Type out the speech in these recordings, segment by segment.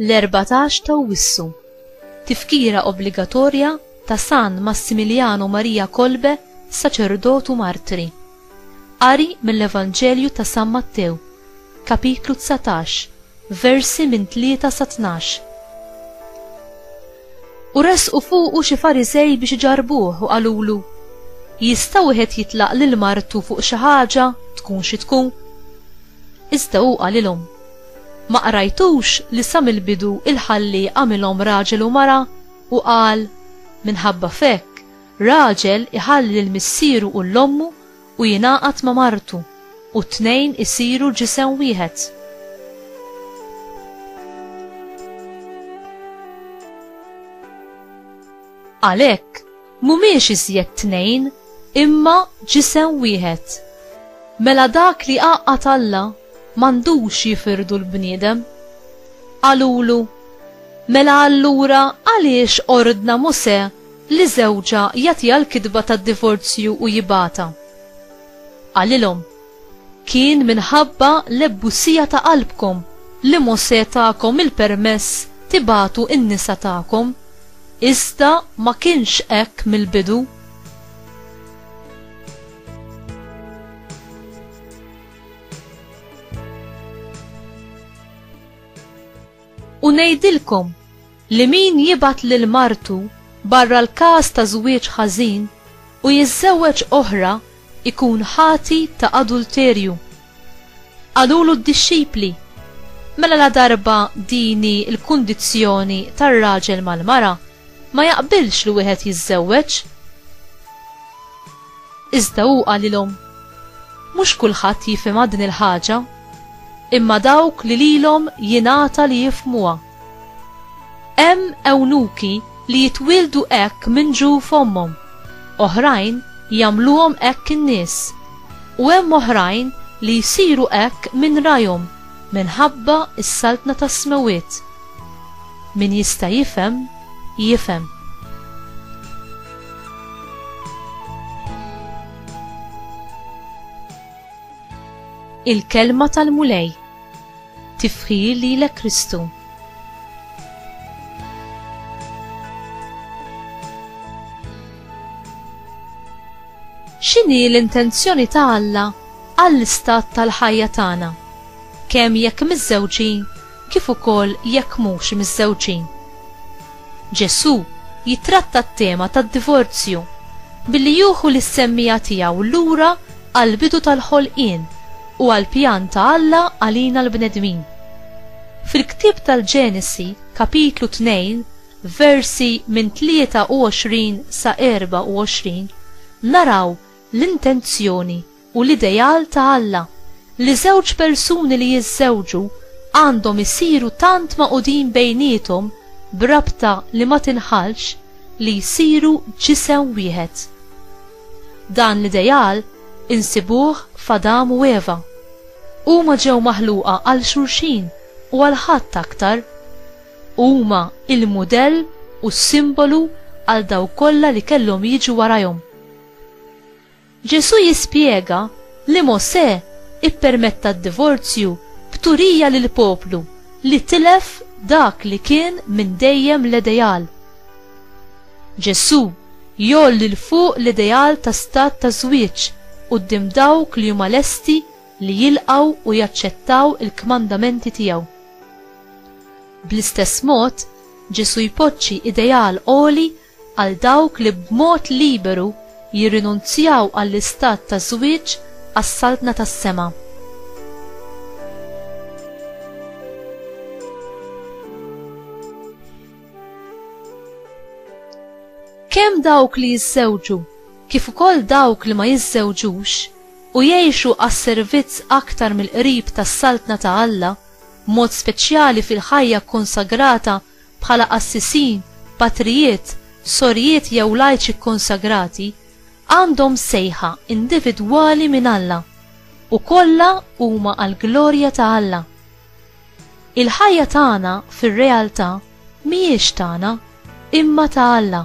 l-14 ta' Wissu. Tifkira obbligatorja ta' San Massimiliano Maria Kolbe, saċerdotu martri. Qari mill-Evanġelju ta' San Mattew, kapitlu dsatax, versi minn tlieta sa tnax. U resqu fuqu xi Fariżej biex iġarrbuh u qalulu, Jista' wieħed jitlaq lil martu fuq xi ħaġa tkun xi tkun? Iżda hu qalilhom, Ma qrajtux li sa mill-bidu l-Ħallieq għamilhom raġel u mara u qal, Minħabba f'hekk Raġel iħalli lil missieru u lil ommu u jingħaqad ma' martu, u t-tnejn isiru ġisem wieħed. Għalhekk, mhumiex iżjed tnejn, imma ġisem wieħed. Mela dak li għaqqad Alla, m'għandux jifirdu l-bniedem. Qalulu, Mela allura għaliex ordna Mosè Li żewġha jagħtiha l-kitba tad-divorzju u jibgħatha. Qalilhom, Kien minħabba l-ebbusija ta' qalbkom li Mosè takom il-permess tibagħtu n-nisa tagħkom, iżda ma kienx hekk mill-bidu. U ngħidilkom, li min jibgħat lil martu barra l-każ ta' żwieġ ħażin u jiżżewweġ oħra jkun ħati ta' adulterju. Qalulu d-dixxipli, Mela ladarba din hi l-kundizzjoni tar-raġel mal-mara, ma jaqbilx li wieħed jiżżewweġ. Iżda hu qalilhom, Mhux kulħadd jifhimha din il-ħaġa, imma dawk li lilhom jingħata li jifhmuha. Hemm ewnuki li jitwieldu hekk minn ġu f'ommhom, oħrajn jagħmluhom hekk in-nies, u hemm oħrajn li jsiru hekk minn rajhom minħabba s-saltna tas-smewwiet. Min jista' jifhem, jifhem. Il-Kelma tal-Mulej. Tifħir lilek Kristu. X'inhi l-intenzjoni ta' Alla għall-istat tal-ħajja tagħna, kemm jekk miżżewġin kif ukoll jekk mhux miżżewġin? Ġesù jittratta t-tema tad-divorzju billi jieħu lis-semmija tiegħu lura għall-bidu tal-ħolqien u għall-pjan ta' Alla għalina l-bnedmin. Fil-ktieb tal-Ġenesi, Kapitlu 2, versi minn 23 sa 24, naraw l-intenzjoni u l-ideal ta' Alla, li żewġ persuni li jiżżewġu għandhom isiru tant magħqudin bejniethom b'rabta li ma tinħallx li jsiru ġisem wieħed. Dan l-ideal insibuh f'Adam u Eva. Huma ġew maħluqa għal xulxin u għal ħadd aktar. Huma l-mudell u s-simbolu għal dawk kollha li kellhom jiġu warajhom. Ġesù jispjega li Mosè ippermetta d-divorzju b'turija lill-poplu li tilef dak li kien minn dejjem l-ideal. Ġesù jgħolli 'l fuq l-ideal ta' stat ta' żwieġ quddiem dawk li huma lesti li jilqgħu u jaċċettaw il-kmandamenti tiegħu. Bl-istess mod, Ġesù jpoġġi ideal għoli għal dawk li b'mod liberu jirrinunzjaw għall-istat ta' żwieġ għas-Saltna tas-sema. Kemm dawk li jiżżewġu kif ukoll dawk li ma jiżżewġux u jgħixu għas-servizz aktar mill-qrib tas-Saltna ta' Alla, b'mod speċjali fil-ħajja kkonsagrata bħala qassisin, patrijiet, sorijiet jew lajċi kkonsagrati, għandhom sejħa individwali minn Alla, u kollha huma għall-glorja ta' Alla. Il-ħajja tagħna fir-realtà mhijiex tagħna, imma ta' Alla.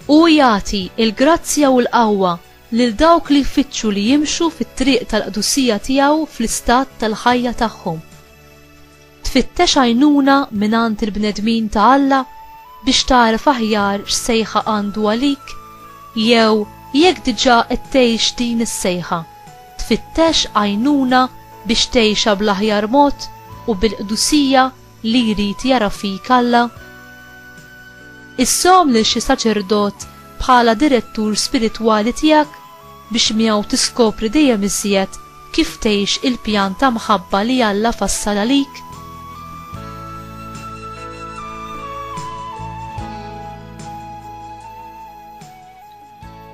Hu jagħti l-grazzja u l-qawwa lil dawk li jfittxu li jimxu fit-triq tal-qdusija tiegħu fl-istat tal-ħajja tagħhom. Tfittex għajnuna mingħand il-bnedmin ta' Alla biex tagħraf aħjar x'sejħa għandu għalik? Jew jekk diġà qed tgħix din is-sejħa, tfittex għajnuna biex tgħixha bl-aħjar mod u bil-qdusija li jrid jara fik Alla? Issom lil xi saċerdot bħala direttur spiritwali tiegħek biex miegħu tiskopri dejjem iżjed Kif tgħix il-pjan ta' mħabba li Alla fassal għalik?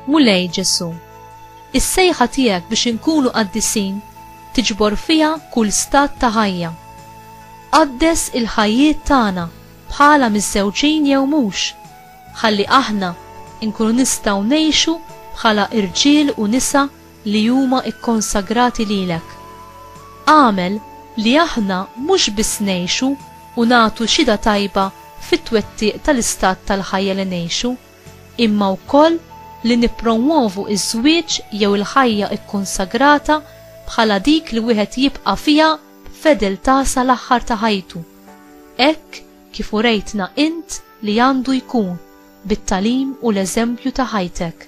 Mulej Ġesù, is-sejħa tiegħek biex inkunu qaddisin tiġbor fiha kull stat ta' ħajja. Qaddes il-ħajjiet tagħna bħala miżżewġin jew mhux, ħalli aħna nkunu nistgħu ngħixu bħala irġiel u nisa li huma kkonsagrati lilek. Agħmel li aħna mhux biss ngħixu u nagħtu xhieda tajba fit-twettiq tal-istat tal-ħajja li ngħixu, imma wkoll li nippromwovu ż-żwieġ jew il-ħajja kkonsagrata bħala dik li wieħed jibqa' fiha b'fedeltà sal-aħħar ta' ħajtu, hekk kif urejtna int li għandu jkun bit-tagħlim u l-eżempju ta' ħajtek.